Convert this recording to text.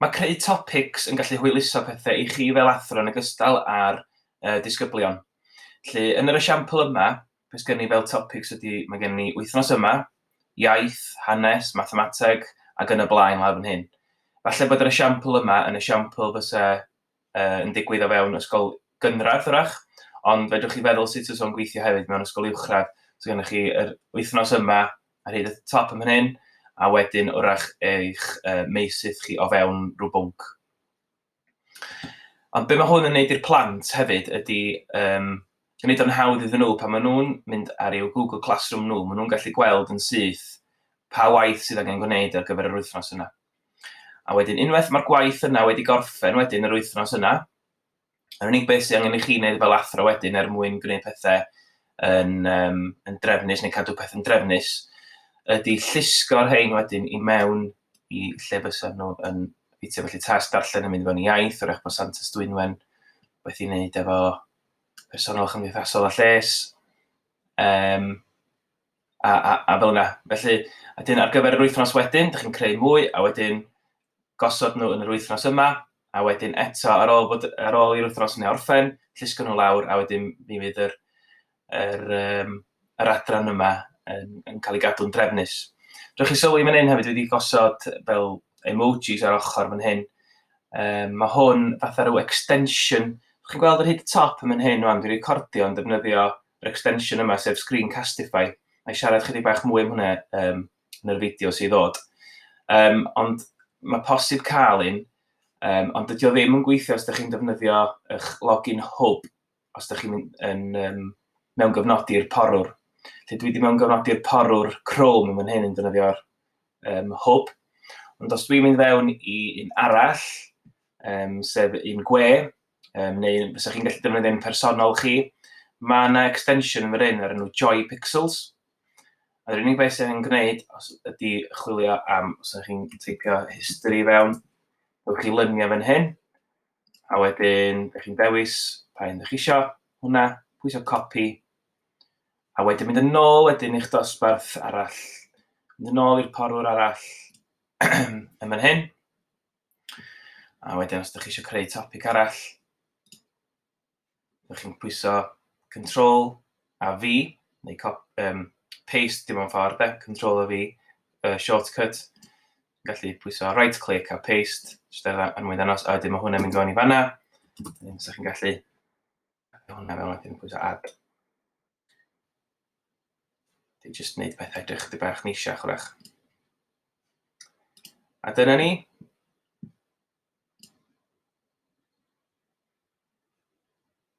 Mae creu topics yn gallu hwyluso pethau i chi fel athro yn ogystal â'r yy disgyblion. Felly, yn yr esiampl yma, beth gen i fel topics ydy, mae gen ni wythnos yma, iaith, hanes, mathemateg ac yn y blaen lawr fan hyn. Falle bod yr esiampl yma yn esiampl fysa uh, yn digwydd o fewn ysgol gynradd, wrach, ond fedrwch chi feddwl sut fysa o'n gweithio hefyd mewn ysgol uwchradd. So gennych chi yr wythnos yma ar hyd y top yn hyn, a wedyn wrach eich uh, meisydd chi o fewn rhyw bwnc. Ond be mae hwn yn neud i'r plant hefyd ydy um, gwneud o'n hawdd iddyn nhw pan maen nhw'n mynd ar eu Google Classroom nhw, maen nhw'n gallu gweld yn syth pa waith sydd angen gwneud ar gyfer yr wythnos yna. A wedyn unwaith mae'r gwaith yna wedi gorffen wedyn yr wythnos yna, yr unig beth sydd angen i chi wneud fel athro wedyn er mwyn gwneud pethau yn, um, yn drefnus neu cadw pethau'n drefnus, ydy llusgo'r rhain wedyn i mewn i lle fysa nhw yn ffitio. Felly tas darllen yn mynd i fewn i iaith, o'r eich bod Santes Dwynwen, beth i wneud efo personol chymdeithasol a lles. Um, A, a, a fel yna. Felly, a dyn ar gyfer yr wythnos wedyn, dych chi'n creu mwy, a wedyn gosod nhw yn yr wythnos yma, a wedyn eto, ar ôl, bod, ar ôl i'r wythnos yna orffen, llusgo nhw lawr, a wedyn mi fydd yr, yr, um, yr adran yma yn, yn cael ei gadw'n drefnus. Rwy'ch chi sylwi fan hyn hefyd wedi gosod fel emojis ar ochr fan hyn. Um, mae hwn fatha rhyw extension. Chi'n gweld yr hyd top yn fan hyn, rwan, dwi'n recordio yn defnyddio yr extension yma, sef Screencastify, a i siarad chydig bach mwy am hwnna um, yn yr fideo sy'n ddod. Um, ond mae posib cael un, um, ond dydy o ddim yn gweithio os ydych chi'n defnyddio eich login hwb, os ydych chi'n yn, um, mewn gyfnodi'r porwr. Lle dwi wedi mewn gyfnodi'r porwr Chrome yn fan hyn yn defnyddio'r um, hwb, ond os dwi'n mynd fewn i un arall, um, sef un gwe, um, neu fysa chi'n gallu defnyddio yn personol chi. Mae yna extension yn yr un ar enw Joy Pixels. Yr unig beth sy'n yn gwneud os ydy chwilio am, os ydych chi'n teipio history fewn, ydych chi luniau fan hyn, a wedyn ydych chi'n dewis pa un ydych chi eisiau, hwnna, pwysio copy, a wedyn mynd yn ôl wedyn i'ch dosbarth arall, mynd yn ôl i'r porwr arall, yn fan hyn, A wedyn os ydych chi eisiau creu topic arall, ydych chi'n pwyso Control a V, neu cop, um, paste dim ond ffordd, e, Control a V, y shortcut. Gallu pwyso right click a paste, jyst er mwyn ddanos, a wedyn mae hwnna'n mynd fewn i fanna. Wedyn, so chi'n gallu Mae hwnna fel wedyn pwyso add. Dwi'n just wneud pethau edrych chdi bach neisiach wrach. A dyna ni.